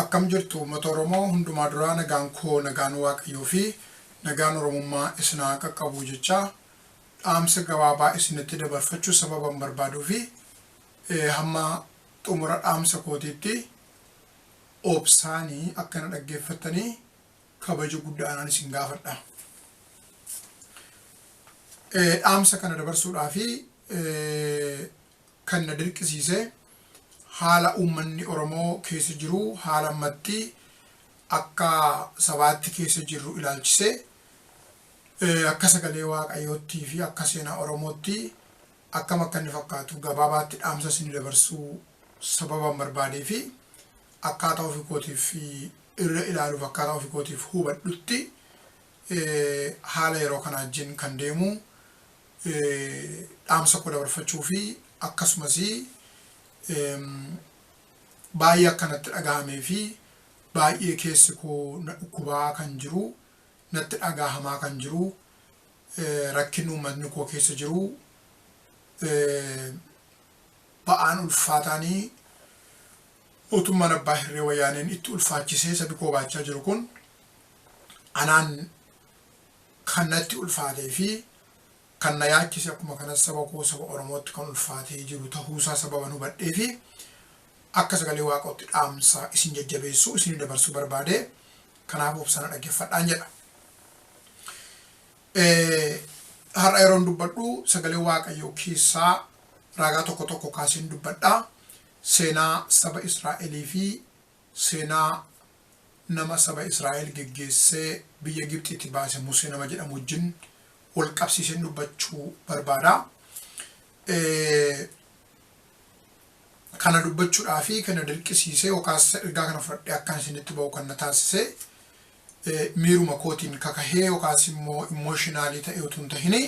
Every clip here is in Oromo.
Akkam jirtu ummata oromoo hundumaa duraa nagaan koo nagaan waaqayyoo fi nagaan oromummaa isin haa qaqqabuu jechaa dhaamsa gabaabaa isinitti dabarfachuu sababan barbaaduu fi hamma xumura dhaamsa kootiitti obsaani akka na dhaggeeffattanii kabaja guddaadhaan isin gaafadha. Dhaamsa kana dabarsuudhaa fi kan na dirqisiise haala uummanni Oromoo keessa jiru haala ammatti akka sabaatti keessa jirru ilaalchisee akka sagalee Waaqayyoottii fi akka seenaa Oromootti akkam akka inni fakkaatu gabaabaatti dhaamsa isinii dabarsuu sababan barbaadee fi akkaataa ofii kootiif irra ilaaluuf akkaataa ofii kootiif hubadhutti haala yeroo kanaa wajjin kan deemu dhaamsa koo dabarfachuu fi akkasumas baay'ee akka natti dhaga'amee fi baay'ee keessi koo na dhukkubaa kan jiru natti dhaga'amaa kan jiru rakkinni uummatni koo keessa jiru ba'aan ulfaataanii mootummaan abbaa hirree wayyaaneen itti ulfaachisee sabi koo baachaa jiru kun anaan Kan natti ulfaatee fi kan na yaachise akkuma kanas saba koo saba Oromootti kan ulfaatee jiru tahuusaa sababan hubadheefi akka sagalee Waaqootti dhaamsa isin jajjabeessu isinif dabarsuu barbaade kanaaf obsaan na dhaggeffadhaan jedha. Har'a yeroon dubbadhu sagalee Waaqayyoo keessaa ragaa tokko tokko kaaseen dubbadha. Seenaa saba Israa'elii fi Seenaa nama saba Israa'el geggeessee biyya Gibxiitti baase Musee nama jedhamu wajjin wal qabsiiseen dubbachuu barbaada. Kana dubbachuudhaa fi kana dirqisiisee yookaas ergaa kana fudhadhee akkan isinitti ba'u kan na taasise miiruma kootiin kakahee yookaas immoo immooshinaalii ta'ee utuu hin tahini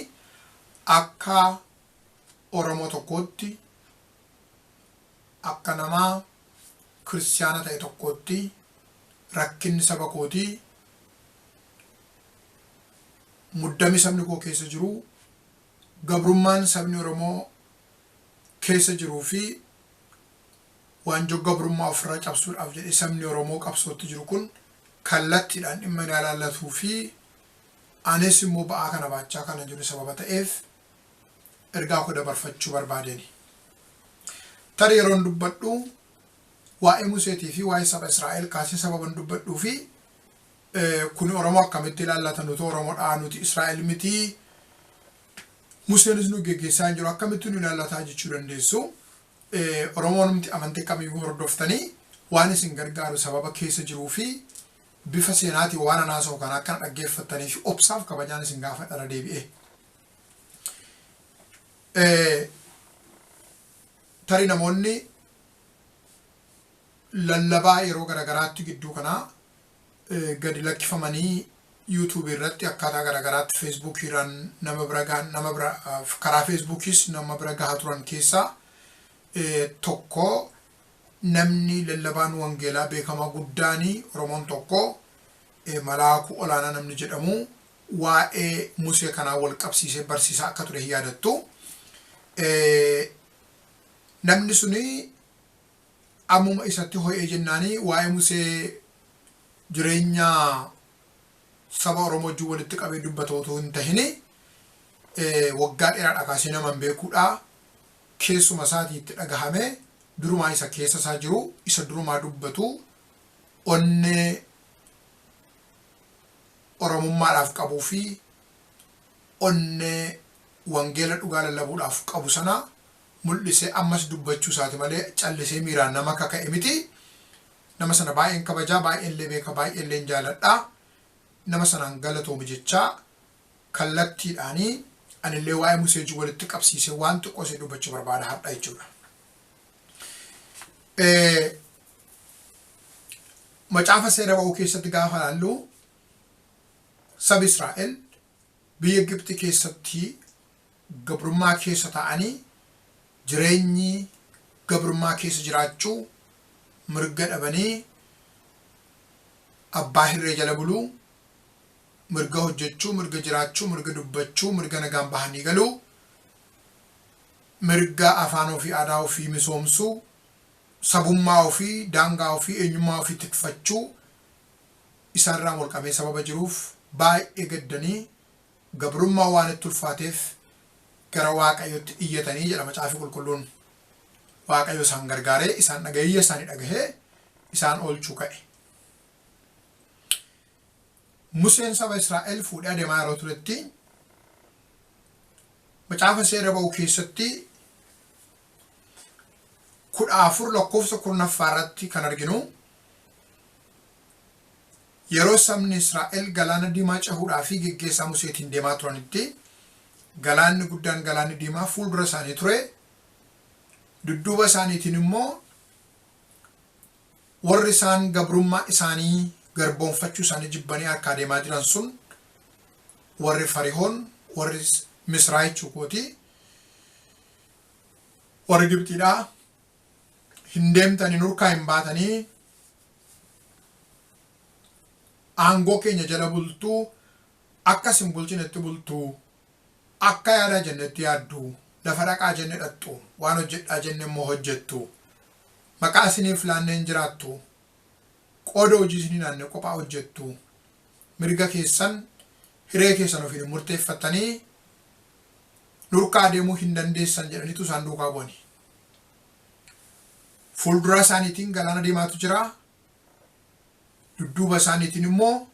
akka Oromoo tokkootti Akka nama Kiristiyaana ta'e tokkootti rakkinni saba kootii, muddami sabni koo keessa jiru, gabrummaan sabni Oromoo keessa jiruu fi waanjoo gabrummaa ofirraa cabsuudhaaf jedhee sabni Oromoo qabsootti jiru kun kallattiidhaan dhimma na ilaallatuu fi anis immoo ba'aa kana baachaa kana jiru sababa ta'eef ergaa koo dabarfachuu barbaadeni. Tarii yeroon dubbadhu waa'ee Museetii fi waa'ee saba Israa'el kaasee sababan dubbadhuu fi kun Oromoo akkamitti ilaallata nuti Oromoodhaa nuti Israa'el mitii Museenis nu geggeessaa hin jiru akkamitti nu ilaallataa jechuu dandeessu. Oromoonumti amantii kamiyyuu hordoftanii waan isin gargaaru sababa keessa jiruu fi bifa seenaatiin waan anaasoo kana akkana dhaggeeffattanii fi obsaaf kabajaan isin gaafadhara deebi'ee. Tarii namoonni lallabaa yeroo garagaraatti gidduu kanaa gadi lakkifamanii YouTube irratti akkaataa garagaraatti Facebook irraan nama bira gahan nama bira karaa Facebookis nama bira gahaa turan keessaa tokko namni lallabaan wangeelaa beekamaa guddaanii Oromoon tokko Malaakuu Olaanaa namni jedhamu waa'ee Musee kanaan wal qabsiisee barsiisaa akka ture hin yaadattu. Namni suni ammuma isatti ho'ee jennaani waa'ee Musee jireenya saba Oromoo wajjin walitti qabee dubbata utuu hin tahini waggaa dheeraadha kaasee nama hin beekuudha. Keessuma isaatii itti dhagahame durumaa isa keessa isaa jiru isa durumaa dubbatu onnee Oromummaadhaaf qabuu fi onnee wangeela dhugaa lallabuudhaaf qabu sana mul'isee ammas dubbachuu isaati malee callisee miiraan nama kaka'e miti. Nama sana baay'een kabaja, baay'een illee beeka, baay'ee illeen jaaladha. Nama sanaan galatoomi jechaa kallattiidhaan ani illee waa'ee Musee wajjin walitti qabsiisee waan xiqqoo isii dubbachuu barbaada har'a jechuudha. Macaafa seera ba'uu keessatti gaafa ilaallu sabi Israa'el biyya Gibxi keessatti gabrummaa keessa taa'anii jireenyi gabrummaa keessa jiraachuu mirga dhabanii abbaa hirree jala buluu mirga hojjechuu mirga jiraachuu mirga dubbachuu mirga nagaan bahanii galuu mirga afaan ofii aadaa ofii misoomsuu sabummaa ofii, daangaa ofii, eenyummaa ofii tikfachuu isaarraan walqabee sababa jiruuf baay'ee gaddanii gabrummaan waan itti ulfaateef gara Waaqayyootti iyyatanii jedha Macaafi Qulqulluun. Waaqayyo isaan gargaaree isaan dhaga'ee iyya isaanii dhagahee isaan oolchuu ka'e. Museen saba Israa'el fuudhee adeemaa yeroo turetti Macaafa Seera Ba'uu keessatti 14 lakkoofsa kurnaffaa irratti kan arginu yeroo sabni Israa'el galaana diimaa cehuudhaa fi geggeessaa Museetiin deemaa turanitti galaanni guddaan galaanni diimaa fuuldura isaanii ture dudduuba isaaniitiin immoo warri isaan gabrummaa isaanii garboonfachuu isaanii jibbanii harkaa deemaa jiran sun warri farihoon warri misraa jechuu kooti warri Gibxiidhaa hin deemtanii nurkaa hin baatanii aangoo keenya jala bultuu akka isin bulchinetti bultuu akka yaadaa jennetti yaaddu lafa dhaqaa jenne dhaqxu waan hojjedhaa jenne immoo hojjettu maqaa isiniif laannee hin jiraattu qooda hojii isin hin aanne qophaa hojjettu mirga keessan hiree keessan ofiin hin murteeffattanii nurkaa adeemuu hin dandeessan jedhaniitu isaan duukaa bu'ani. Fuulduraa isaaniitiin galaana deemaatu jira. Dudduuba isaaniitiin immoo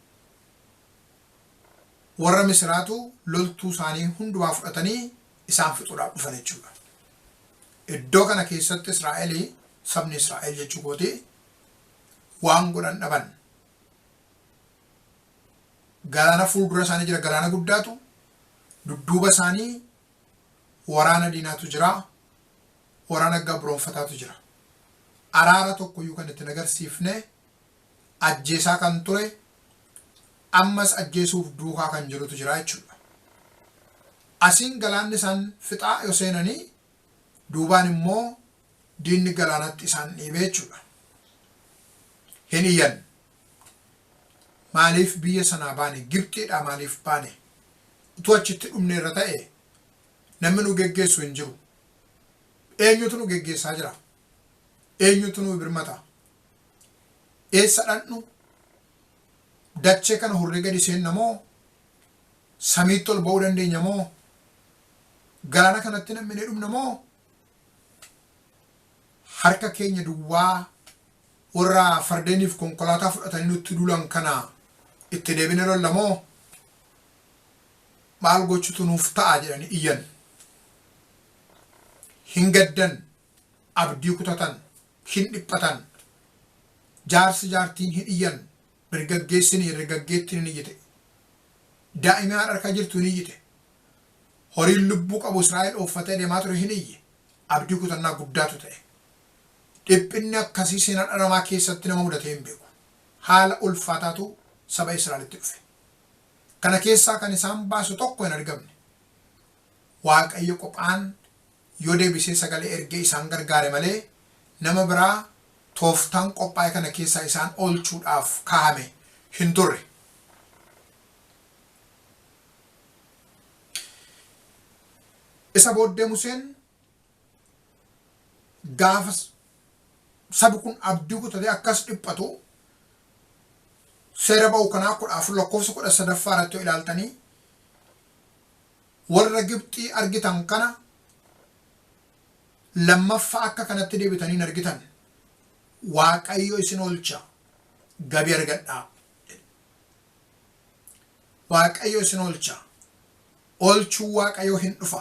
warra misiraatu loltuu isaanii hundumaa fudhatanii isaan fixuudhaaf dhufan jechuudha. Iddoo kana keessatti Israa'el sabni Israa'el jechuu kooti waan godhan dhaban. Galaana fuuldura isaanii jira, galaana guddaatu, dudduuba isaanii waraana diinaatu jira, waraana gabroonfataatu jira. Araara tokkoyyuu kan itti hin agarsiifne, ajjeesaa kan ture, ammas ajjeesuuf duukaa kan jirutu jira jechuudha. Asiin galaanni isaan fixaa yoo seenanii duubaan immoo Diinni galaanatti isaan dhiibee jechuudha. Hin iyyan. Maaliif biyya sanaa baane? Gibxiidhaa maaliif baane? Utuu achitti dhumneerra ta'ee namni nu geggeessu hin jiru. Eenyutu nu geggeessaa jira? Eenyutu nu birmata? Eessa dhaqnu? Dachee kana hurree gadi seenna moo? Samiitti ol ba'uu dandeenya moo? Galaana kanatti nam'inee dhumna moo? harka keenya duwwaa warra fardeeniif konkolaataa fudhatanii nutti duulan kana itti deebine lolla moo maal gochutu nuuf ta'a jedhanii iyyan hin gaddan abdii kutatan hin dhiphatan jaarsi jaartiin hin iyyan Dargaggeessi ni dargaggeettiin ni jite. Daa'imni haadha harka jirtu ni jite. Horiin lubbuu qabu Israa'el ooffatee deemaa ture hin iyye. Abdii kutannaa guddaatu ta'e. Dhiphinni akkasii seenaa dhala namaa keessatti nama mudatee hin beeku. Haala ulfaataatu saba Israa'elitti dhufe. Kana keessaa kan isaan baasu tokko hin argamne. Waaqayyo qophaan yoo deebisee sagalee ergee isaan gargaare malee, nama biraa tooftaan qophaa'e kana keessaa isaan oolchuudhaaf kaahame hin turre. Isa booddee Museen gaafa sabi kun abdii kutatee akkas dhiphatu seera ba'u kanaa kudha afur lakkoofsa kudha sadaffaa irratti yoo ilaaltanii Warra Gibxii argitan kana lammaffa akka kanatti deebitanii hin argitan. Waaqayyo isin oolcha, gabi argadhaa jedhe. Waaqayyo isin oolcha. Oolchuu Waaqayyoo hin dhufa.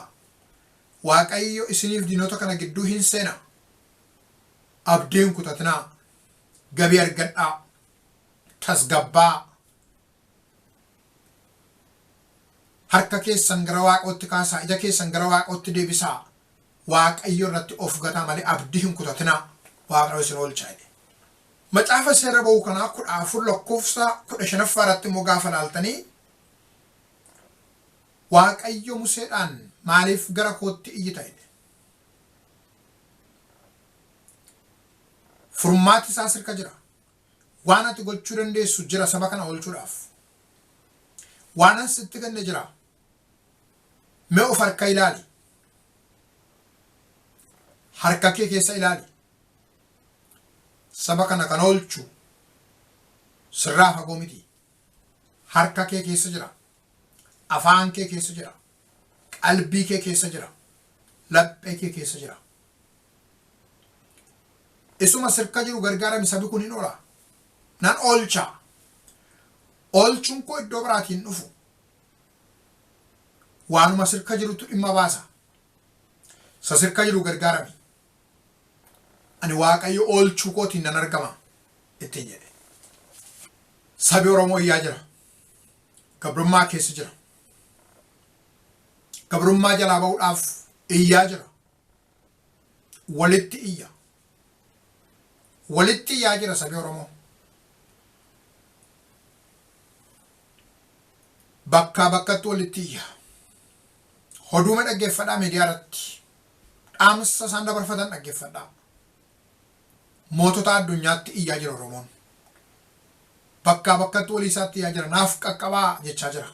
Waaqayyo isiniif diinota kana gidduu hin seena. Abdii hin kutatinaa. Gabi argadhaa. Tasgabbaa. Harka keessan gara Waaqootti kaasaa, ija keessan gara Waaqootti deebisaa, Waaqayyo irratti of gataa malee abdii hin kutatinaa, Waaqayyo isin oolcha jedhe. Macaafa seera ba'uu kanaa 14 lakkoofsa 15ffaa irratti immoo gaafa laaltanii Waaqayyo Museedhaan maaliif gara kootti iyyita jedhe. Furmaati isaas harka jira. Waan ati gochuu dandeessu jira saba kana oolchuudhaaf. Waanan sitti kenne jira. Mee of harka ilaali. Harka kee keessa ilaali. Saba kana kan oolchu sirraa fagoo miti. Harka kee keessa jira. Afaan kee keessa jira. qalbii kee keessa jira laphee kee keessa jira isuma sirka jiru gargaarami sabi kun hin ola nan oolcha oolchuun koo iddoo biraatiin dhufu waanuma sirka jirutu dhimma baasa sa sirka jiru gargaarami ani waaqayyo oolchuu kootiin nan argama ittiin jedhe sabi oromoo iyyaa jira gabrummaa keessa jira gabrummaa jalaa ba'uudhaaf iyyaa jira. Walitti iyya. Walitti iyyaa jira sabi Oromoo. Bakkaa bakkatti walitti iyya. Hoduuma dhaggeeffadhaa miidiyaa irratti. Dhaamsa isaan dabarfatan dhaggeeffadhaa. Mootota addunyaatti iyyaa jira Oromoon. Bakkaa bakkatti walii isaatti iyyaa jira. Naaf qaqqabaa jechaa jira.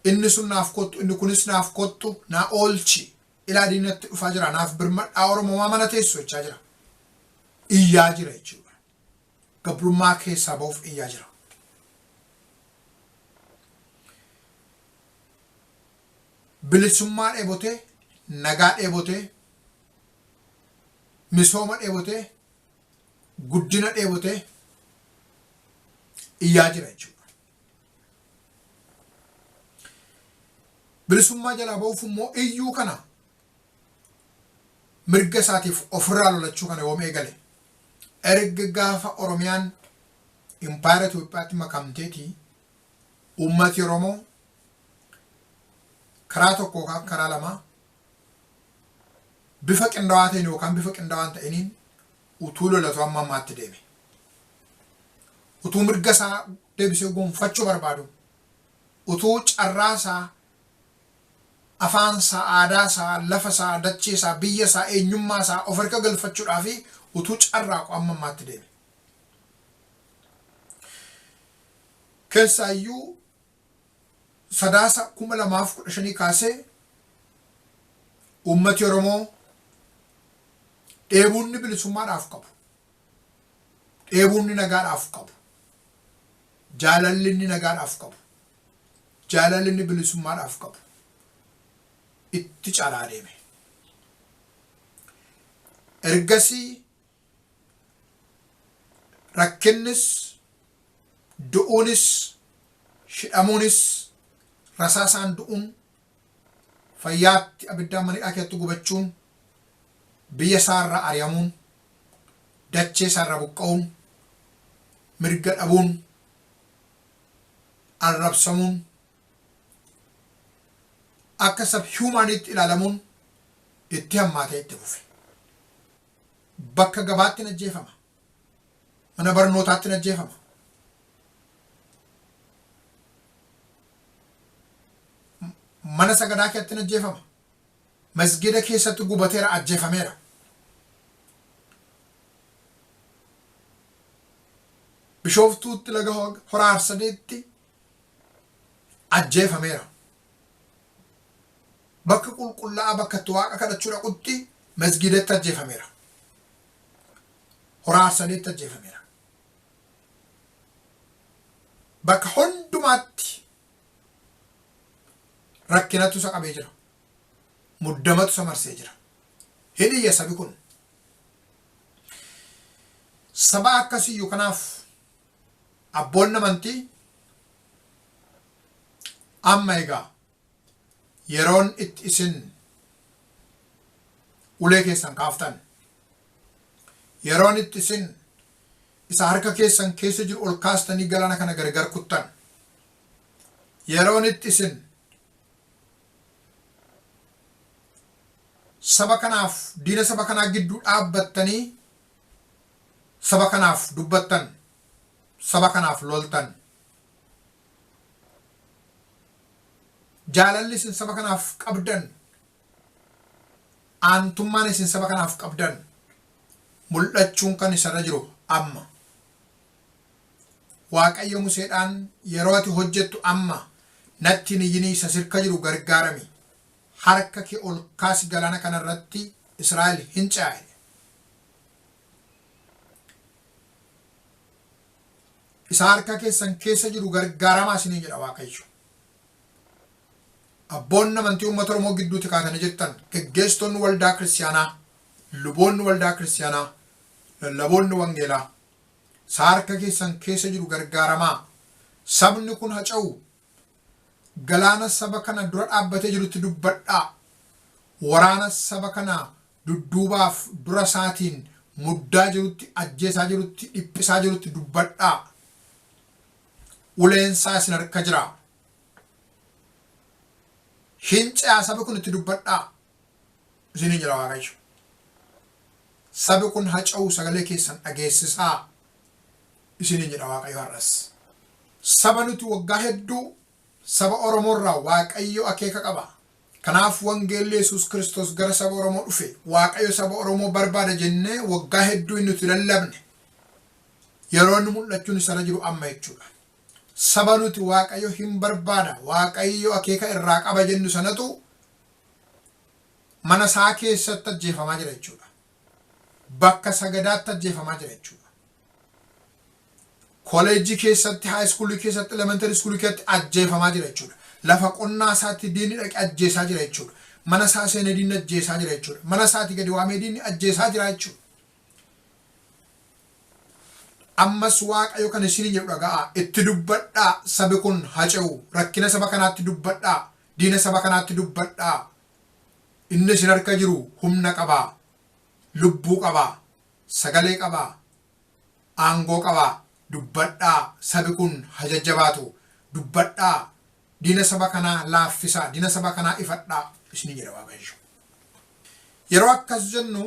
Inni sun naaf kottu, inni kunis naaf kottu, naa oolchi. Ilaa diinni natti dhufaa jira. Naaf birmadhaa Oromoo maa mana teessu jechaa jira. Iyyaa jira jechuudha. Gabrummaa keessaa bahuuf iyyaa jira. Bilisummaa dheebotee, nagaa dheebotee, misooma dheebotee guddina dheebotee iyyaa jira jechuudha. Bilisummaa jalaa ba'uuf immoo iyyuu kana mirga isaatiif ofirraa lolachuu kana yoom eegale erga gaafa Oromiyaan impaayera Itoophiyaatti makamteeti uummati Oromoo karaa tokkoo karaa lamaa bifa qindawaa ta'een yookaan bifa qindawaa hin ta'iniin utuu lolatuu amma ammaatti deeme. Utuu mirga isaa deebisee gonfachuu barbaadu, utuu carraa isaa, afaan isaa, aadaa isaa, lafa isaa, dachee isaa, biyya isaa, eenyummaa isaa of harka galfachuudhaa fi utuu carraaqu amma ammaatti deeme. Keessaayyuu Sadaasa 2015 kaasee uummati Oromoo dheebuunni bilisummaadhaaf qabu, dheebuunni nagaadhaaf qabu, jaalalli inni nagaadhaaf qabu, jaalalli inni bilisummaadhaaf qabu itti caalaa adeeme. Ergasii Rakkinnis, du'uunis, hidhamuunis, rasaasaan du'uun, fayyaatti abiddaan mana hidhaa keessatti gubachuun, biyya isaa irraa ari'amuun, dachee isaa irraa buqqa'uun, mirga dhabuun, arrabsamuun, akka sab-humaaniitti ilaalamuun itti hammaatee itti fufe. Bakka gabaatti hin ajjeefama. Mana barnootaatti hin ajjeefama. Mana sagadaa keessatti hin ajjeefama. Masgida keessatti gubateera ajjeefameera. Bishooftuutti laga horaarsadeetti ajjeefameera. bakka qulqulla'aa bakka itti waaqa kadhachuu dhaqutti masgiidatti ajjeefameera. Horaa Arsaleetti ajjeefameera. Bakka hundumaatti rakkinatu isa qabee jira. Muddamatu isa marsee jira. Hin iyya sabi kun. Saba akkasiyyuu kanaaf abboonni amantii amma egaa yeroon itti isin ulee keessan kaaftan yeroon itti isin isa harka keessan keessa jiru ol kaastanii galaana kana gargar kuttan yeroon itti isin saba kanaaf diina saba kanaa gidduu dhaabbattanii saba kanaaf dubbattan, saba kanaaf loltan. Jaalalli isin saba kanaaf qabdan, aantummaan isin saba kanaaf qabdan mul'achuun kan isa irra jiru amma. Waaqayyo Museedhaan yeroo ati hojjettu amma natti hin iyyinii isa sirka jiru gargaarami. Harka kee ol kaasi galaana kana irratti Israa'el hin ce'a jedhe. isa harka keessan keessa jiru gargaaramaa isiniin jedha waaqayyo. Abboonni amantii uummata Oromoo gidduutti kaatanii jettan geggeessitoonni waldaa kiristiyaanaa, luboonni waldaa kiristiyaanaa, lallaboonni wangeelaa isa harka keessan keessa jiru gargaaramaa sabni kun haca'u galaana saba kana dura dhaabbatee jirutti dubbadhaa waraana saba kana dudduubaaf dura isaatiin muddaa jirutti, ajjeesaa jirutti, dhiphisaa jirutti dubbadhaa. Uleen isaa isin harka jira. Hin ce'aa sabi kun itti dubbadhaa. Isiniin jedha Waaqayyo. Sabi kun haca'uu sagalee keessan dhageessisaa. Isiniin jedha Waaqayyo har'as. Saba nuti waggaa hedduu Saba Oromoo irraa Waaqayyo akeeka qaba. Kanaaf wangeelli Yesuus Kiristoos gara saba Oromoo dhufe. Waaqayyo saba Oromoo barbaada jennee waggaa hedduu inni nuti lallabne yeroo inni mul'achuun isarra jiru amma jechuudha. Saba nuti Waaqayyo hin barbaada, Waaqayyo akeeka irraa qaba jennu sanatu mana isaa keessatti ajjeefamaa jira jechuudha. Bakka sagadaatti ajjeefamaa jira jechuudha. Koleejjii keessatti, high school keessatti, elementary school keessatti ajjeefamaa jira jechuudha. Lafa qonnaa isaatti diinni dhaqe ajjeesaa jira jechuudha. Mana isaa seenee diinni ajjeesaa jira jechuudha. Mana isaati gadi waamee diinni ajjeesaa jira jechuudha. Ammas Waaqayyo kan isin jedhu dhaga'aa, itti dubbadhaa sabi kun hace'u, rakkina saba kanaatti dubbadhaa, diina saba kanaatti dubbadhaa. Inni isin harka jiru humna qaba, lubbuu qaba, sagalee qabaa aangoo qabaa dubbadhaa sabi kun ha jajjabaatu dubbadhaa diina saba kanaa laaffisaa diina saba kanaa ifadhaa isni jedha waaqayyo yeroo akkas jennu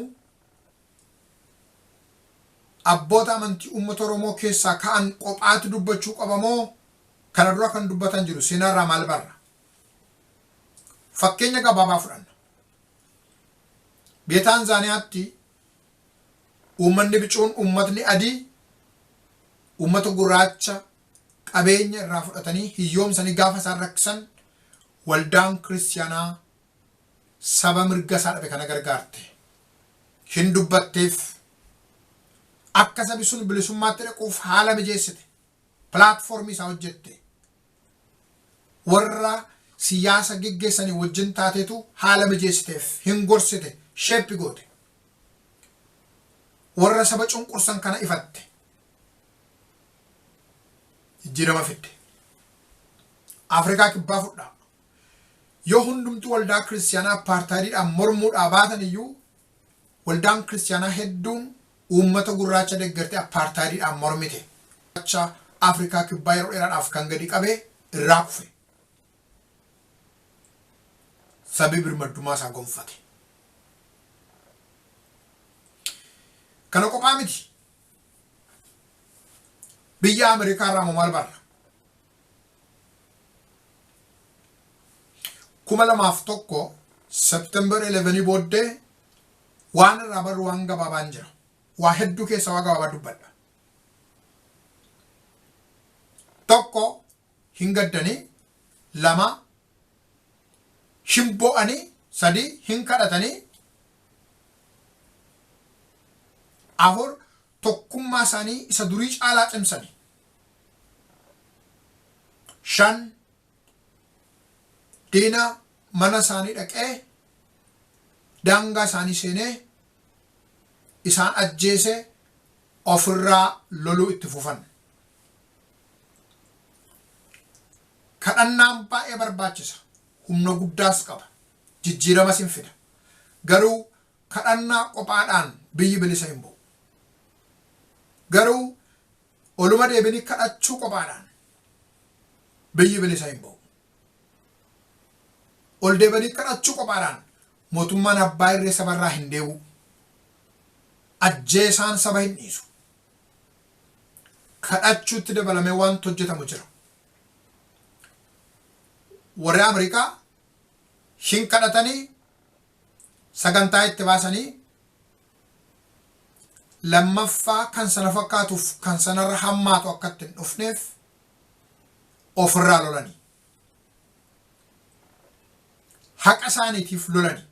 abboota amantii uummata oromoo keessaa ka'an qophaatti dubbachuu qabamoo kana dura kan dubbatan jiru seenaarraa maal barra fakkeenya gabaabaa fudhanna biyya taanzaaniyaatti Uummanni bicuun, uummatni adii, uummata gurraacha qabeenya irraa fudhatanii hiyyoomsanii gaafa isaan rakkisan waldaan kiristiyaanaa saba mirga isaa dhabe kana gargaarte. Hin dubbatteef. Akka sabi sun bilisummaatti dhaquuf haala mijeessite. Pilaatfoormii isaa hojjette. warra siyaasa geggeessanii wajjin taateetu haala mijeessiteef, hin gorsite, shape goote. Warra saba cunqursan kana ifatte. Jijjiirama fidde. Afrikaa kibbaa fudhaa. Yoo hundumtuu waldaa kiristiyaanaa appaartaayidiidhaan mormuudhaa baatan iyyuu Waldaan Kiristiyaanaa hedduun uummata gurraacha deggertee appaartaayidiidhaan mormite. Gurraacha Afrikaa Kibbaa yeroo dheeraadhaaf kan gadi qabe irraa kufe. Sabi birmaddummaa isaa gonfate. Kana qophaa miti. Biyya Ameerikaa irraa immoo maal barra? kuma lamaa fi tokko September 11 booddee waan irraa barru waan gabaabaan jira. Waa hedduu keessa waa gabaabaa dubbadha. Tokko hin gaddanii, lama hin bo'anii, sadi hin kadhatanii, afur tokkummaa isaanii isa durii caalaa cimsanii. shan diina mana isaanii dhaqee daangaa isaanii seenee isaan ajjeese ofirraa loluu itti fufan. Kadhannaan baay'ee barbaachisa. Humna guddaas qaba. Jijjiiramas hin fida. Garuu kadhannaa qophaadhaan biyyi bilisa hin ba'u. Garuu Oluma deebinii kadhachuu qophaadhaan biyyi bilisa hin ba'u. Ol deebanii kadhachuu qophaadhaan mootummaan abbaa irree sabarraa hin deebi'u. Ajjeesaan saba hin dhiisu. Kadhachuutti dabalamee wanti hojjetamu jira. Warri Ameerikaa hin kadhatanii sagantaa itti baasanii lammaffaa kan sana fakkaatuuf kan sanarra hammaatu akka itti hin dhufneef ofirraa lolani. Haqa isaaniitiif lolani.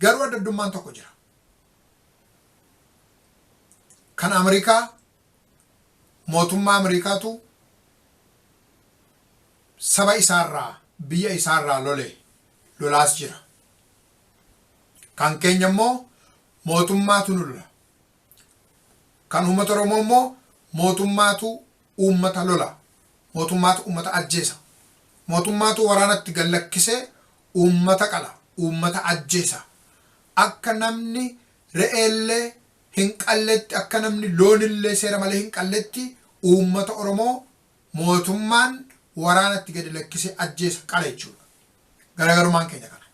Garuu adda addummaan tokko jira. Kan Ameerikaa mootummaa Ameerikaatu saba isaarraa biyya isaarraa lole lolaas jira. Kan keenya immoo mootummaatu nu lola. Kan uummata Oromoo immoo mootummaatu uummata lola. Mootummaatu uummata ajjeesa. Mootummaatu waraanatti gad lakkisee uummata qala, uummata ajjeesa. Akka namni re'eellee hin qalletti, akka namni loonillee seera malee hin qalletti uummata Oromoo mootummaan waraanatti gadi lakkisee ajjeesa, qala jechuudha. Garaagarummaan keenya kana.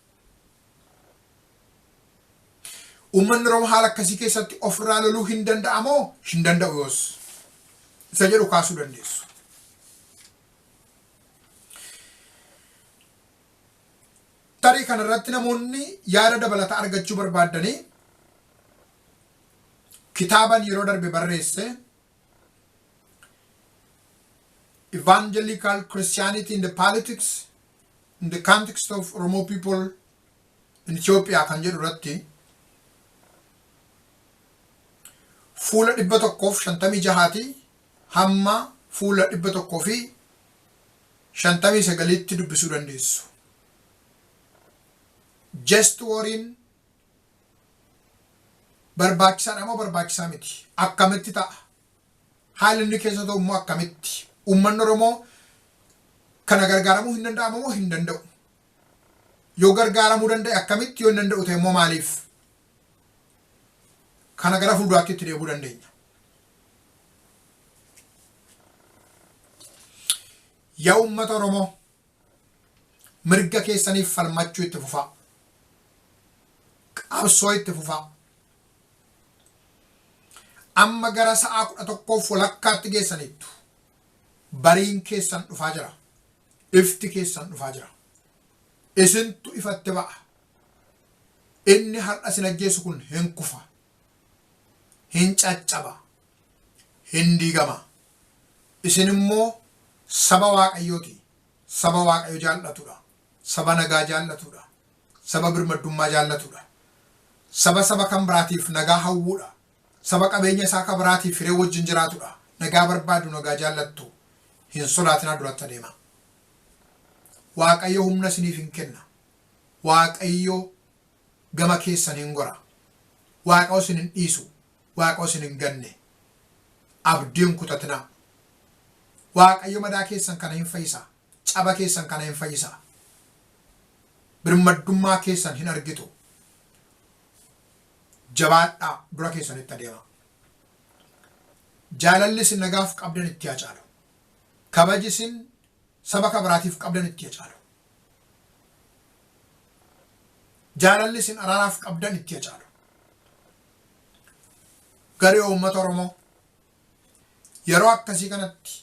Uummanni Oromoo haala akkasii keessatti ofirraa loluu hin danda'a moo hin danda'u yoos isa jedhu kaasuu dandeessu. Tarii kanarratti namoonni yaada dabalataa argachuu barbaaddanii kitaaban yeroo darbe barreesse Evangelical Christianity in the Politics in the Context of Oromo People in Ethiopia kan jedhu irratti fuula 156 hamma fuula 159tti dubbisuu dandeessu. Jest wariin barbaachisaadha moo barbaachisaa miti? Akkamitti ta'a? Haalli inni keessa ta'u immoo akkamitti? Uummanni Oromoo kana gargaaramuu hin danda'amu moo hin danda'u? Yoo gargaaramuu danda'e akkamitti? Yoo hin danda'u ta'e immoo maaliif? Kana gara fuulduraatti itti deebuu dandeenya. Yaa uummata Oromoo Mirga keessaniif falmachuu itti fufaa. Qabsoo itti fufaa. Amma gara sa'aa kudha tokkoof walakkaatti geessaniittu. Bariin keessan dhufaa jira. Ifti keessan dhufaa jira. Isintu ifatti ba'a. Inni har'a isin ajjeesu kun hin kufa. Hin caccaba. Hin diigama. Isin immoo saba Waaqayyoo ti, saba Waaqayyo jaallatu dha, saba nagaa jaallatu dha, saba birmaddummaa jaallatu dha, saba saba kan biraatiif nagaa hawwuu dha, saba qabeenya isaa ka biraatiif hiree wajjin jiraatu dha, nagaa barbaadu, nagaa jaallattu, hin sodaatinaa duratti adeemaa. Waaqayyo humna isiniif in kenna. Waaqayyo gama keessan in gora. Waaqayyo isin hin dhiisu. Waaqoo isin hin ganne abdii hin kutatinaa Waaqayyo madaa keessan kana hin fayyisa caba keessan kana hin fayyisa birmaddummaa keessan hin argitu jabaadhaa dura keessanitti adeema jaalalli isin nagaaf qabdan itti haa caalu kabaji isin saba kabiraatiif qabdan itti haa caalu jaalalli isin araaraaf qabdan itti haa caalu Garee uummata Oromoo yeroo akkasii kanatti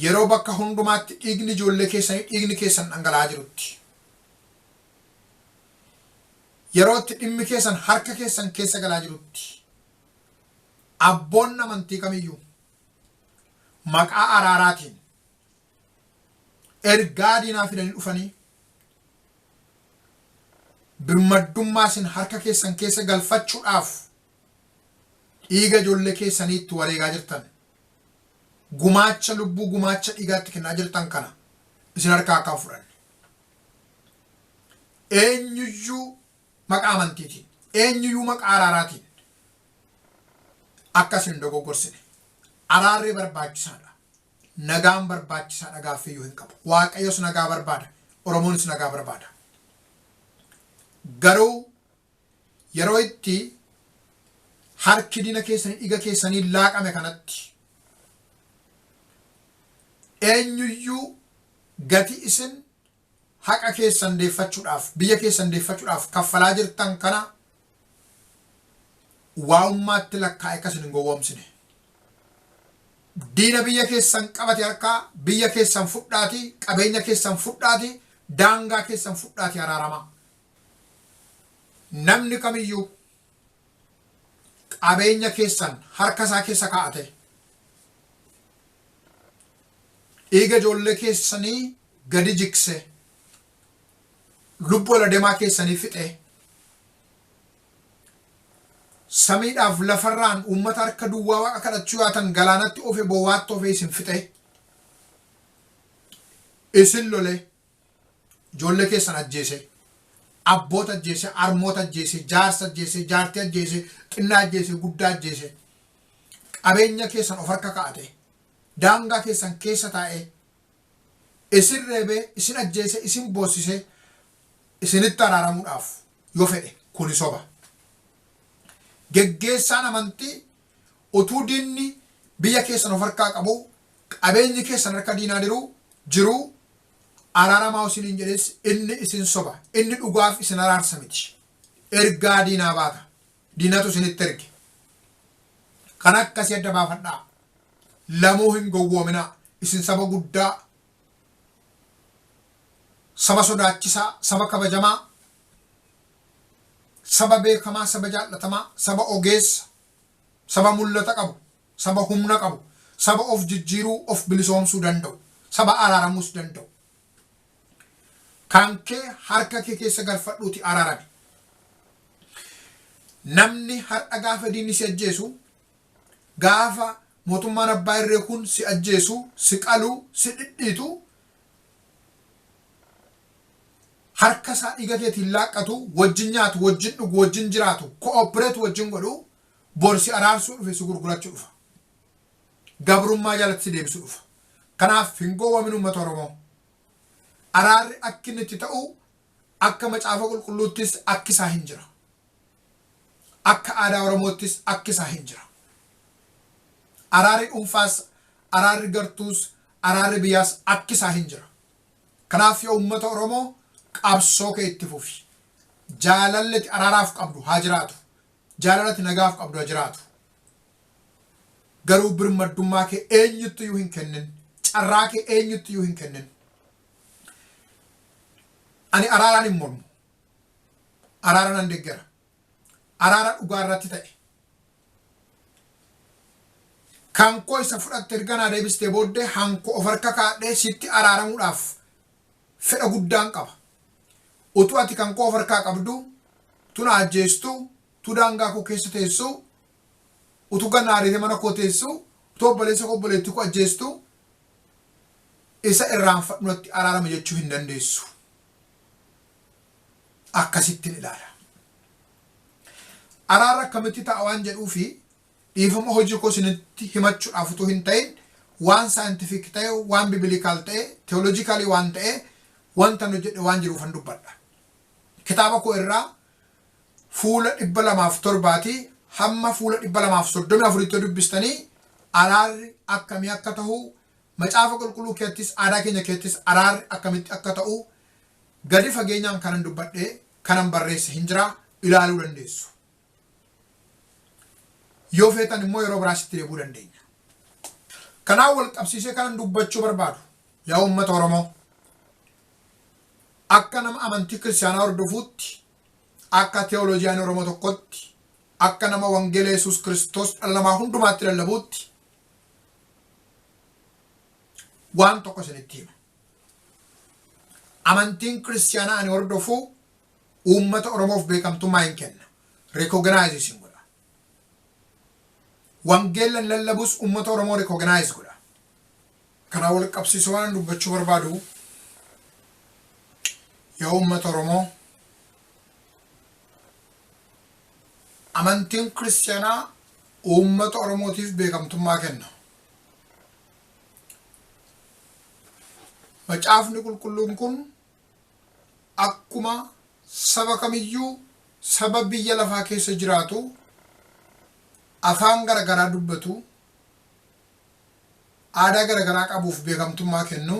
yeroo bakka hundumaatti dhiigni ijoollee keessanii dhiigni keessan dhangala'aa jirutti yeroo itti dhimmi keessan harka keessan keessa galaa jirutti abboonni amantii kamiyyuu maqaa araaraatiin ergaa diinaa fidanii dhufanii birmaddummaa isin harka keessan keessa galfachuudhaaf dhiiga ijoollee keessanii itti wareegaa jirtan gumaacha lubbuu gumaacha dhiigaatti kennaa jirtan kana isin harkaa akka hin fudhanne eenyuyyuu maqaa amantiitiin eenyuyyuu maqaa araaraatiin akka isin hin dogoggorsine araarri barbaachisaadha Nagaan barbaachisaadha gaaffiyyuu hin qabu. Waaqayyos nagaa barbaada. Oromoonis nagaa barbaada. Garuu yeroo itti harki diina keessanii dhiiga keessanii laaqame kanatti eenyuyyuu gati isin haqa keessan deeffachudhaaf, biyya keessan deeffachudhaaf kaffalaa jirtan kana waa'ummaatti lakkaa'ee akka isin hin gowwoomsine. Diina biyya keessan qabate harkaa biyya keessan fudhaatii, qabeenya keessan fudhaatii, daangaa keessan fudhaatii araaramaa. Namni kamiyyuu. qabeenya keessan harka isaa keessa kaa'atee dhiiga ijoollee keessanii gadi jiksee lubbuu ala demaa keessanii fixee samiidhaaf lafarraan uummata harka duwwaa waaqa kadhachuu yaatan galaanatti ofe bowwaatti ofe isin fixee isin lolee ijoollee keessan ajjeese, abboota ajjeese, harmoota ajjeese, jaarsa ajjeese, jaartii ajjeese, xinnaa ajjeese, guddaa ajjeese, qabeenya keessan of harka kaa'ate, daangaa keessan keessa taa'e, isin reebee, isin ajjeese, isin boossise, isinitti araaramuudhaaf yoo fedhe kuni soba. Geggeessaan amantii Utuu diinni biyya keessan of harkaa qabuu, qabeenyi keessan harka diinaa diruu, jiruu, araaramaa isiniin jedhees inni isin soba. Inni dhugaaf isin araarsa miti. Ergaa diinaa baata. Diinatu isinitti erge. Kan akkasii adda baafadhaa. Lamuu hin gowwoominaa. Isin saba guddaa, saba sodaachisaa, saba kabajamaa, saba beekamaa, saba jaallatamaa, saba ogeessa, Saba mul'ata qabu, saba humna qabu, saba of jijjiiruu, of bilisoomsuu danda'u, saba araaramuus danda'u. Kan kee harka kee keessa galfadhuuti araarami. Namni har'a gaafa diinni si ajjeesu, gaafa mootummaan abbaa irree kun si ajjeesu, si qalu, si dhidhiitu, harka isaa dhiiga keetiin laaqqatu, wajjin nyaatu, wajjin dhugu, wajjin jiraatu, cooperate wajjin godhu, bor si araarsuu dhufe, si gurgurachu dhufa. Gabrummaa jalatti si deebisu dhufa. Kanaaf hin gowwamin uummata Oromoo. Araarri akki inni itti ta'u akka macaafa qulqulluuttis akki isaa hin jira. Akka aadaa Oromoottis akki isaa hin jira. Araarri dhuunfaas, araarri gartuus, araarri biyyaas akki isaa hin jira. Kanaaf yaa uummata Oromoo qabsoo kee itti fufi. Jaalalli ati araaraaf qabdu haa jiraatu. Jaalala ati nagaaf qabdu haa jiraatu. Garuu birmaddummaa kee eenyuttiyyuu hin kennin. Carraa kee eenyuttiyyuu hin kennin. Ani araaraan hin mormu. Araara nan deggera. araara dhugaa irratti ta'e. Kan koo isa fudhatte erga naa deebistee booddee hanko of harka kaadhee sitti araaramuudhaaf fedha guddaan qaba. Utuu ati kan koo of harkaa qabdu, tu na ajjeestu, tu daangaa koo keessa teessu, utuu gad na ariitee mana koo teessu, utuu obboleessa koo obboleettii koo ajjeestu, isa irraanfadhu natti araarama jechuu hin dandeessu. akkasittin ilaala. Araarri akkamitti ta'a waan jedhuufi dhiifama hojii koo isinitti himachuudhaaf utuu hin ta'in waan saayintifiik ta'e, waan bibilikaal ta'e, teoloojikaalii waan ta'e wanta nu jedhe waan jiruufan dubbadha. Kitaaba koo irraa fuula dhibba lamaaf torbaatii hamma fuula dhibba lamaaf soddomii afuritti dubbistanii araarri akkamii akka ta'u macaafa qulqulluu keettis aadaa keenya keettis araarri akkamitti akka ta'u Gadi fageenyaan kanan dubbadhe, kanan barreesse hin jira, ilaaluu dandeessu. Yoo feetan immoo yeroo biraas itti deebi'uu dandeenya. Kanaan wal qabsiisee kanan dubbachuu barbaadu, yaa uummata Oromoo, akka nama amantii kiristaanaa hordofuutti, akka teolojiyaanii Oromoo tokkotti, akka nama wangeela Yesuus Kiristoos dhala namaa hundumaatti lallabuutti waan tokko isinitti hima. Amantiin Kiristiyaanaa ani hordofu uummata Oromoof beekamtummaa hin kenna, recognize isin godha. Wangeella ani lallabus uummata Oromoo recognize godha. Kanaan wal qabsiisee waan dubbachuu barbaadu yaa uummata Oromoo amantiin Kiristiyaanaa uummata Oromootiif beekamtummaa kenna. Macaafni Qulqulluun kun akkuma saba kamiyyuu saba biyya lafaa keessa jiraatu afaan gara garaa dubbatu, aadaa gara garaa qabuuf beekamtummaa kennu,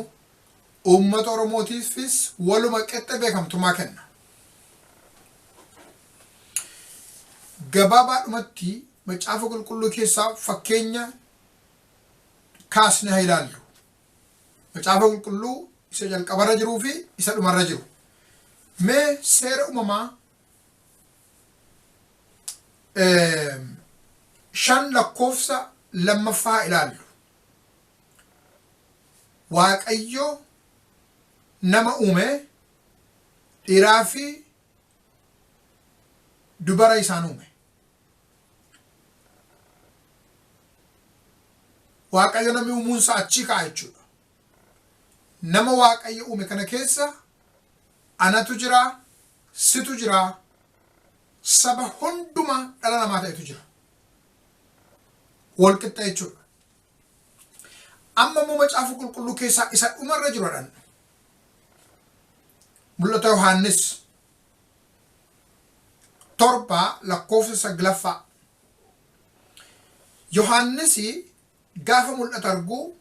uummata Oromootiifis waluma qixxe beekamtummaa kenna. Gabaabaadhumatti Macaafa Qulqulluu keessaa fakkeenya kaasne haa ilaallu. Macaafa qulqulluu isa jalqabarra jiruu fi isa dhumarra jiru. Mee seera uumamaa shan lakkoofsa lammaffaa haa ilaallu. Waaqayyo nama uume dhiiraa fi dubara isaan uume. Waaqayyo namni uumuunsaa achii ka'a jechuudha. Nama Waaqayyo uume kana keessa anatu jira, situ jira, saba hundumaa dhala namaa ta'etu jira. Wal qixxa jechuudha. Amma immoo macaafa qulqulluu keessaa isa dhumarra jiru jedhan. Mul'ata Yohaannis torba lakkoofsa saglaffaa. Yohaannis gaafa mul'ata arguu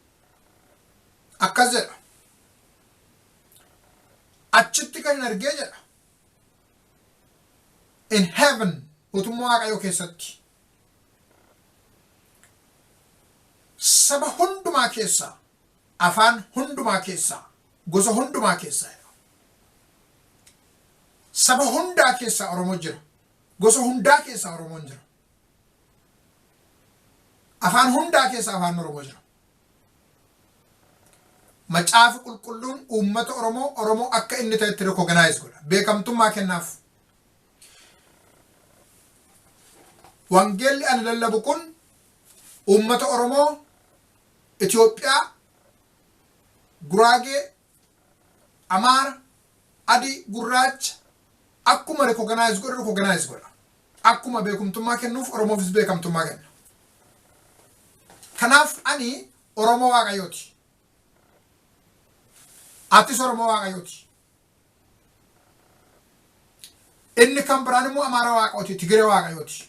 akkas jedha. Achitti kan hin argee jedha. In heaven mootummaa waaqayyoo keessatti saba hundumaa keessaa Afaan hundumaa keessaa, gosa hundumaa keessaa jedha. Saba hundaa keessaa Oromoo jira. Gosa hundaa keessaa Oromoon jira. Afaan hundaa keessa afaan Oromoo jira. Macaafi qulqulluun uummata Oromoo Oromoo akka inni ta'etti recognize godha. Beekamtummaa kennaaf. Wangeelli ani lallabu kun uummata Oromoo Itoophiyaa, Guraagee, Amaara, Adii, Gurraacha akkuma recognize godhu recognize godha. Akkuma beekumtummaa kennuuf Oromoofis beekamtummaa kenna. Kanaaf ani Oromoo Waaqayyooti. Atis Oromoo Waaqayyooti. Inni kan biraan immoo Amaara Waaqayyooti, Tigire Waaqayyooti,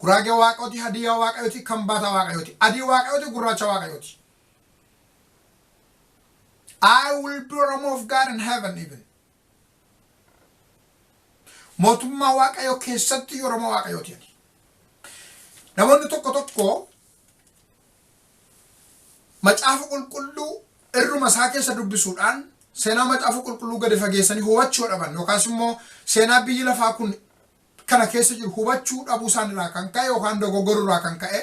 Guraagee Waaqayyooti, Hadiyyaa Waaqayyooti, Kambaataa Waaqayyooti, Adii Waaqayyooti, Gurraacha Waaqayyooti. I will be Oromo of God in heaven even. Mootummaa Waaqayyoo keessatti Oromo Waaqayyooti ani. Namoonni tokko tokko Macaafa Qulqulluu irruma isaa keessa dubbisuudhaan seenaa Macaafa Qulqulluu gadi fageessanii hubachuu dhaban yookaas immoo seenaa biyyi lafaa kun kana keessa jiru hubachuu dhabuu isaan irraa kan ka'e yookaan dogoggoruu irraa kan ka'e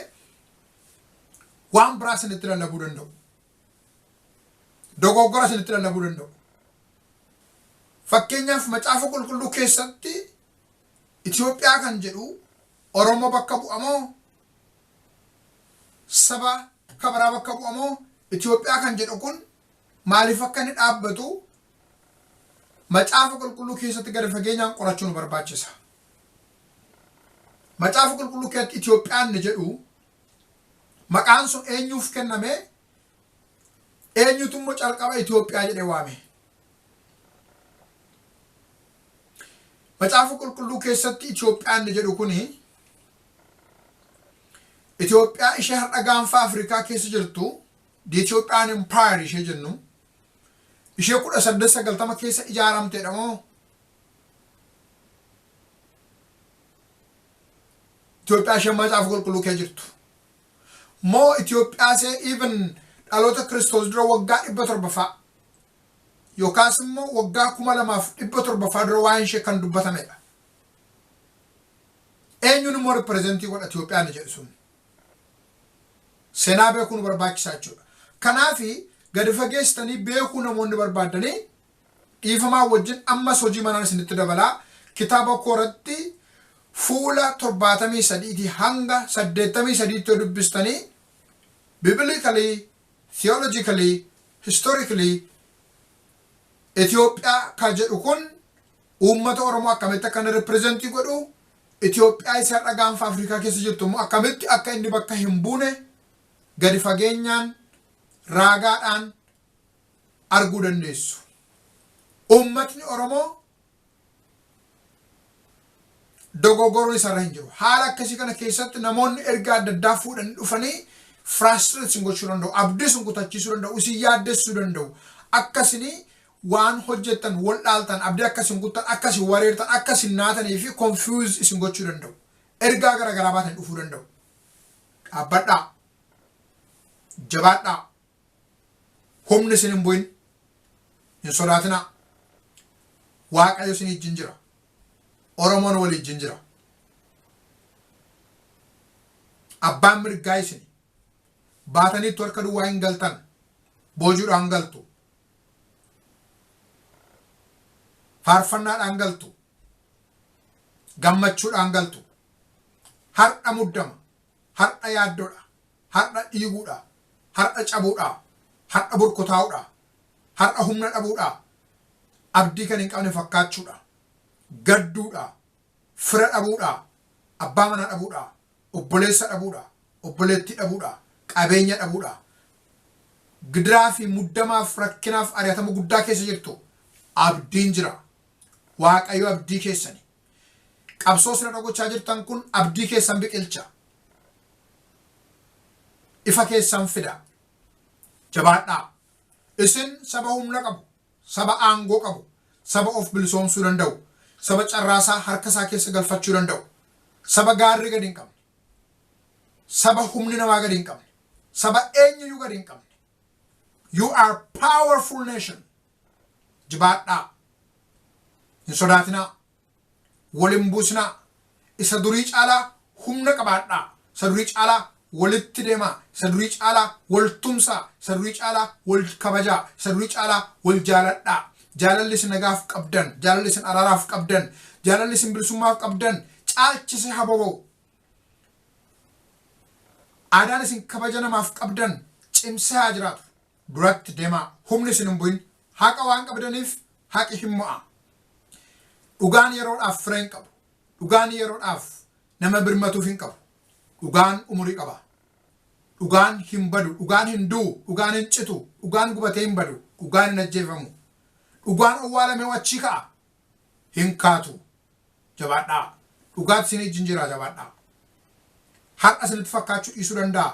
waan biraa isinitti lallabuu danda'u. Dogoggora isinitti lallabuu danda'u. Fakkeenyaaf Macaafa Qulqulluu keessatti Itoophiyaa kan jedhu Oromoo bakka bu'amoo saba akka biraa bakka bu'a moo Itoophiyaa kan jedhu kun maaliif akka inni dhaabbatu macaafa qulqulluu keessatti gadi fageenyaan qorachuu nu barbaachisa. Macaafa qulqulluu keessatti Itoophiyaan inni jedhu maqaan sun eenyuuf kenname eenyutu immoo calqaba Itoophiyaa jedhee waame. Macaafa qulqulluu keessatti Itoophiyaan inni jedhu kuni Itoophiyaa ishee har'a gaanfa Afrikaa keessa jirtu the Ethiopian Empire ishee jennu ishee kudha saddeet sagaltama keessa ijaaramteedha moo Itoophiyaa ishee macaafa qulqulluu kee jirtu moo Itoophiyaa ishee even dhaloota kiristoos dura waggaa dhibba torba fa'a yookaas immoo waggaa kuma lamaaf dhibba torba fa'a dura waa'een ishee kan dubbatamedha. Eenyuun immoo representii godha Itoophiyaa ni jedhu sun. Seenaa beekuu nu barbaachisaa jechuudha. Kanaaf gadi fageessitanii beekuu namoonni barbaaddanii dhiifamaa wajjin ammas hojii manaan isinitti dabalaa kitaaba koo irratti fuula torbaatamii sadiitii hanga saddeettamii sadiitti yoo dubbistanii biblically, theologically, historically Itoophiyaa kan jedhu kun uummata Oromoo akkamitti akka inni represent godhu, Itoophiyaa isa har'a gaanfa Afrikaa keessa jirtu immoo akkamitti akka inni bakka hin buune gadi fageenyaan raagaadhaan arguu dandeessu. Uummatni Oromoo dogoggoruun isarra hin jiru. Haala akkasii kana keessatti namoonni ergaa adda addaa fuudhanii dhufanii frustrate isin gochuu danda'u, abdii isin kutachiisuu danda'u, isin yaaddessuu danda'u. Akka isin waan hojjettan, wal dhaaltan, abdii akka isin kuttan, akka isin wareertan, akka isin naatanii fi confuse isin gochuu danda'u. Ergaa gara garaa baatanii dhufuu danda'u. Dhaabbadhaa. Jabaadhaa. Humni isin hin bu'in. Hin sodaatinaa. Waaqayyo isin ijjin jira. Oromoon wal ijjin jira. Abbaan mirgaa isin baataniittu harka duwwaa hin galtan. Boojuudhaan galtu. faarfannaadhaan galtu gammachuudhaan galtu har'a muddama har'a yaaddodha har'a dhiiguudha har'a cabuudha har'a burkutaa'uudha har'a humna dhabuudha abdii kan hin qabne fakkaachuudha gadduudha fira dhabuudha abbaa manaa dhabuudha obboleessa dhabuudha, obboleettii dhabuudha, qabeenya dhabuudha. Gidiraa fi muddamaaf rakkinaaf ari'atama guddaa keessa jirtu. Abdiin jira. Waaqayyo abdii keessani. Qabsoo isin irra gochaa jirtan kun abdii keessan biqilcha. Ifa keessan fida. Jabaadhaa. Isin saba humna qabu. Saba aangoo qabu, saba of bilisoomsuu danda'u, saba carraasaa harka isaa keessa galfachuu danda'u, saba gaarri gadi hin qabne, saba humni namaa gadi hin qabne, saba eenyuyyuu gadi hin qabne. You are powerful nation. Jibaadhaa. Hin sodaatinaa. wal hin buusinaa, isa durii caalaa humna qabaadhaa, isa durii caalaa walitti deemaa, isa durii caalaa wal tumsaa, isa durii caalaa wal kabajaa, isa durii caalaa wal jaaladhaa. Jaalalli isin nagaaf qabdan, jaalalli isin araaraaf qabdan, jaalalli isin bilisummaaf qabdan caalchisee haa boba'u. Aadaan isin kabaja namaaf qabdan cimsee haa jiraatu. duratti demaa humni isin hin bu'in haqa waan qabdaniif haqi hin mo'aa dhugaan yeroodhaaf fira hin qabu dhugaan yeroodhaaf nama birmatuuf hin qabu dhugaan umurii qaba dhugaan hin badu dhugaan hin du'u dhugaan hin citu dhugaan gubatee hin badu dhugaan hin ajjeefamu dhugaan owwaalamee achii ka'a hin kaatu jabaadhaa dhugaatti isin ijjin jira jabaadhaa har'a isinitti fakkaachuu dhiisuu danda'a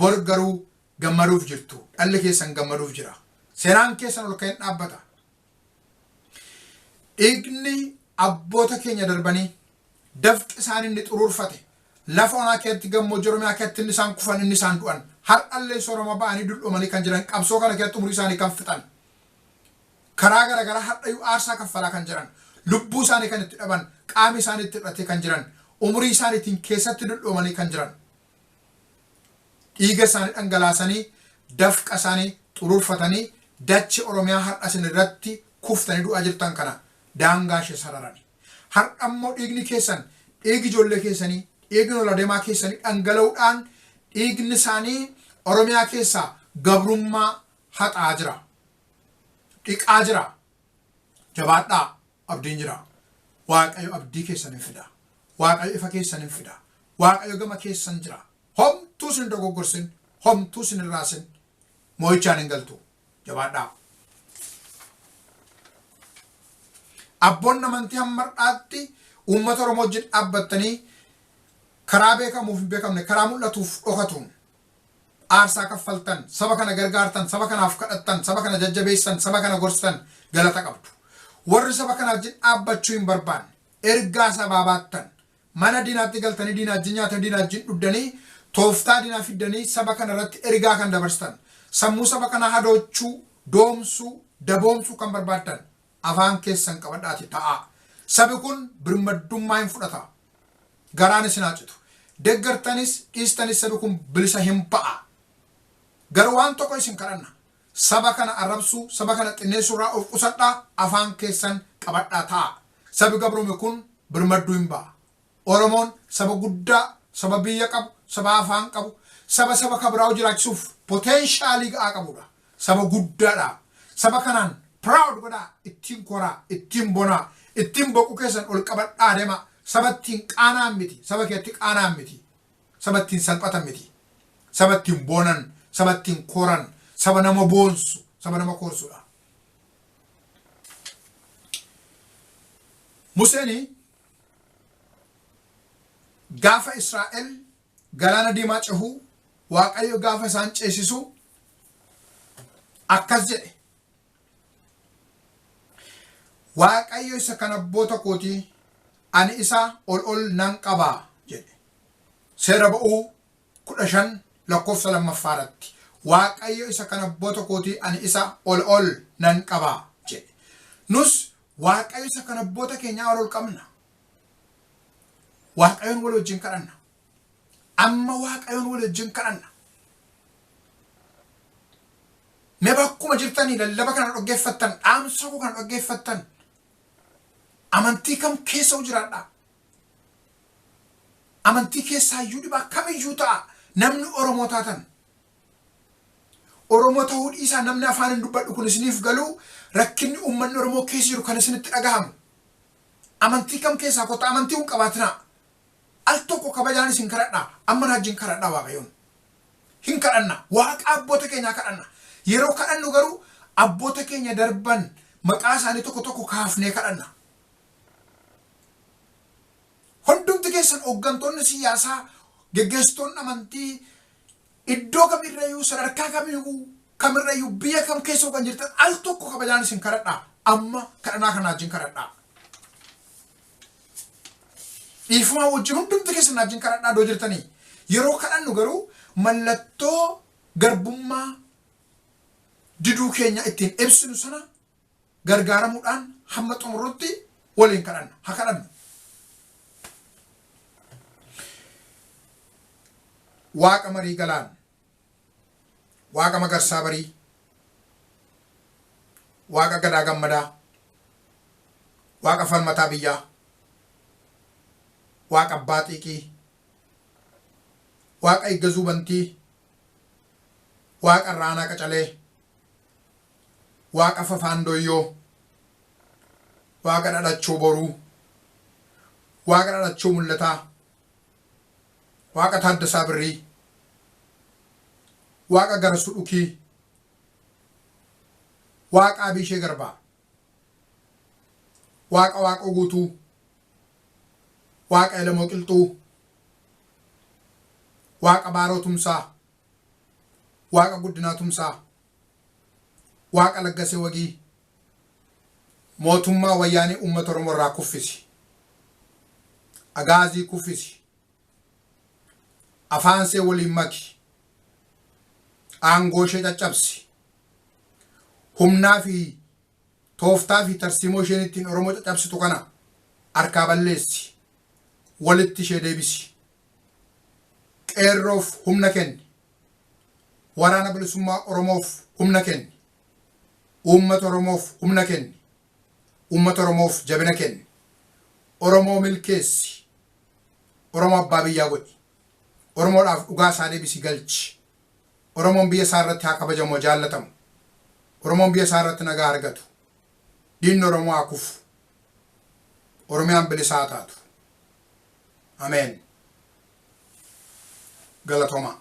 bor garuu gammaduuf jirtu. Dhalli keessan gammaduuf jira. Seraan keessan ol ka'een dhaabbata. Dhiigni abboota keenya darbanii dafqi isaan inni xuruurfate lafa onaa keessatti gammoojjii Oromiyaa keessatti inni isaan kufan inni isaan du'an har'allee soorama ba'anii dul'oomanii kan jiran qabsoo kana keessatti umurii isaanii kan fixan karaa garaagaraa har'ayyuu aarsaa kaffalaa kan jiran lubbuu isaanii kan itti dhaban qaami isaanii itti hidhatee kan jiran umurii isaaniitiin keessatti dul'oomanii kan jiran dhiiga isaanii dhangalaasanii dafqa isaanii xuruurfatanii dache Oromiyaa har'a isin irratti kuftanii du'aa jirtan kana daangaa ishee sararani. Har'a immoo dhiigni keessan dhiigi ijoollee keessanii dhiigni ol adeemaa keessanii dhangala'uudhaan dhiigni isaanii Oromiyaa keessaa gabrummaa haxaa jira. Dhiqaa jira. Jabaadhaa. Abdiin jira. Waaqayyo abdii keessan hin fida. Waaqayyo ifa keessan hin fida. Waaqayyo gama keessan jira. Homtuu sin dogoggorsin, homtuu sin hin raasin. Moo'ichaan hin galtu. Jabaadhaa. Abboonni amantii hamma har'aatti uummata Oromoo wajjin dhaabbattanii karaa beekamuuf hin beekamne, karaa mul'atuuf dhokatuun aarsaa kaffaltan, saba kana gargaartan, saba kanaaf kadhattan, saba kana jajjabeessitan, saba kana gorsitan galata qabdu. Warri saba kana wajjin dhaabbachuu hin barbaanne, ergaa sabaa baattan, mana diinaatti galtanii diinaa wajjin nyaatanii diinaa wajjin dhugdanii tooftaa diinaa fiddanii saba kana irratti ergaa kan dabarsitan, sammuu saba kanaa hadoochuu, doomsuu, daboomsuu kan barbaaddan afaan keessan qabadhaati ta'aa. Sabi kun birmaddummaa hin fudhata. Garaan isin haa citu. Deggartanis dhiistanis sabi kun bilisa hin ba'a. Garuu waan tokko isin kadhanna. Saba kana arrabsuu, saba kana xinneessuu irraa of qusadhaa afaan keessan qabadhaa ta'aa. Sabi gabroome kun birmadduu hin ba'a. Oromoon saba guddaa, saba biyya qabu, saba afaan qabu, saba saba ka biraa jiraachisuuf potential ga'aa qabudha. Saba guddaadha. Saba kanaan proud godhaa, ittiin koraa, ittiin bonaa, ittiin boquu keessan ol qabadhaa demaa. Saba ittiin qaana'an miti, saba keetti qaana'an miti, saba ittiin salphatan miti, saba ittiin boonan, saba ittiin koran, saba nama boonsu, saba nama koorsudha. Museen Gaafa Israa'el galaana diimaa cehu Waaqayyo gaafa isaan ceesisu akkas jedhe. Waaqayyo isa kan abboota kooti ani isa ol ol nan qaba jedhe. Seera ba'uu kudha shan lakkoofsa lammaffaa irratti Waaqayyo isa kan abboota kooti ani isa ol ol nan qaba jedhe. Nus Waaqayyo isa kan abboota keenyaa ol ol qabna. Waaqayyoon wal wajjin kadhanna. Amma Waaqayyoon wal wajjin kadhanna. Mee bakkuma jirtanii lallaba kana dhaggeeffattan, dhaamsa koo kana dhaggeeffattan, amantii kam keessa hoo jiraadhaa? Amantii keessaa iyyuu dhibaa kamiyyuu ta'a namni Oromoo taatan Oromoo tahuu dhiisaa namni afaanin dubbadhu kun isiniif galuu rakkinni uummanni Oromoo keessa jiru kan isinitti dhagahamu. Amantii kam keessaa kottaa amantii hin qabaatinaa. Al tokko kabajaan isin kadhadha amma na wajjin kadhadha waaqayyoon. Hin kadhanna waaqa abboota keenyaa kadhanna. Yeroo kadhannu garuu abboota keenya darban maqaa isaanii tokko tokko kaafnee kadhanna. Hundumti keessan hooggantoonni siyaasaa geggeessitoonni amantii Iddoo kam irra iyyuu, sadarkaa kam iyyuu, kam irra iyyuu, biyya kam keessa iyyuu kan jirtan al tokko kabajaan isin kadhadha. Amma kadhanaa kana wajjin kadhadhaa. Dhiifamaa wajjin hundumti keessan wajjin kadhadhaa iddoo jirtanii. Yeroo kadhannu garuu mallattoo garbummaa diduu keenya ittiin ibsinu sana gargaaramuudhaan hamma xumurrutti waliin kadhanna. Ha kadhannu. Waaqa marii galaan, Waaqa magarsaa barii, Waaqa gadaa gammadaa, Waaqa falmataa biyyaa, Waaqa abbaa xiiqii, Waaqa eeggazuu bantii, Waaqa irraa aanaa qacalee, Waaqa Fafaan Doyyoo, Waaqa Dhadhachoo Boruu, Waaqa Dhadhachoo Mul'ataa, Waaqa Taaddasaa Birrii, Waaqa Garasuu Dhukii, Waaqa Abiishee Garbaa, Waaqa Waaqoo Guutuu, Waaqa Elemoo Qilxuu, Waaqa Baaroo Tumsaa, Waaqa Guddinaa Tumsaa, Waaqa Laggasee Wagii Mootummaa Wayyaanee Uummata Oromoo irraa kuffisi. Agaazii kuffisi. Afaan see waliin maki. Aangoo ishee caccabsi. Humnaa fi tooftaa fi tarsiimoo isheen ittiin Oromoo caccabsitu kana harkaa balleessi. Walitti ishee deebisi. Qeerroof humna kenni. Waraana Bilisummaa Oromoof humna kenni! Uummata Oromoof humna kenni! Uummata Oromoof jabina kenni! Oromoo milkeessi! Oromoo abbaa biyyaa godhi! Oromoodhaaf dhugaa isaa deebisi galchi! Oromoon biyya isaa irratti haa kabajamu, haa jaallatamu! Oromoon biyya isaa irratti nagaa haa argatu! Diinni Oromoo haa kufu! Oromiyaan bilisa haa taatu! Ameen. Galatomaa.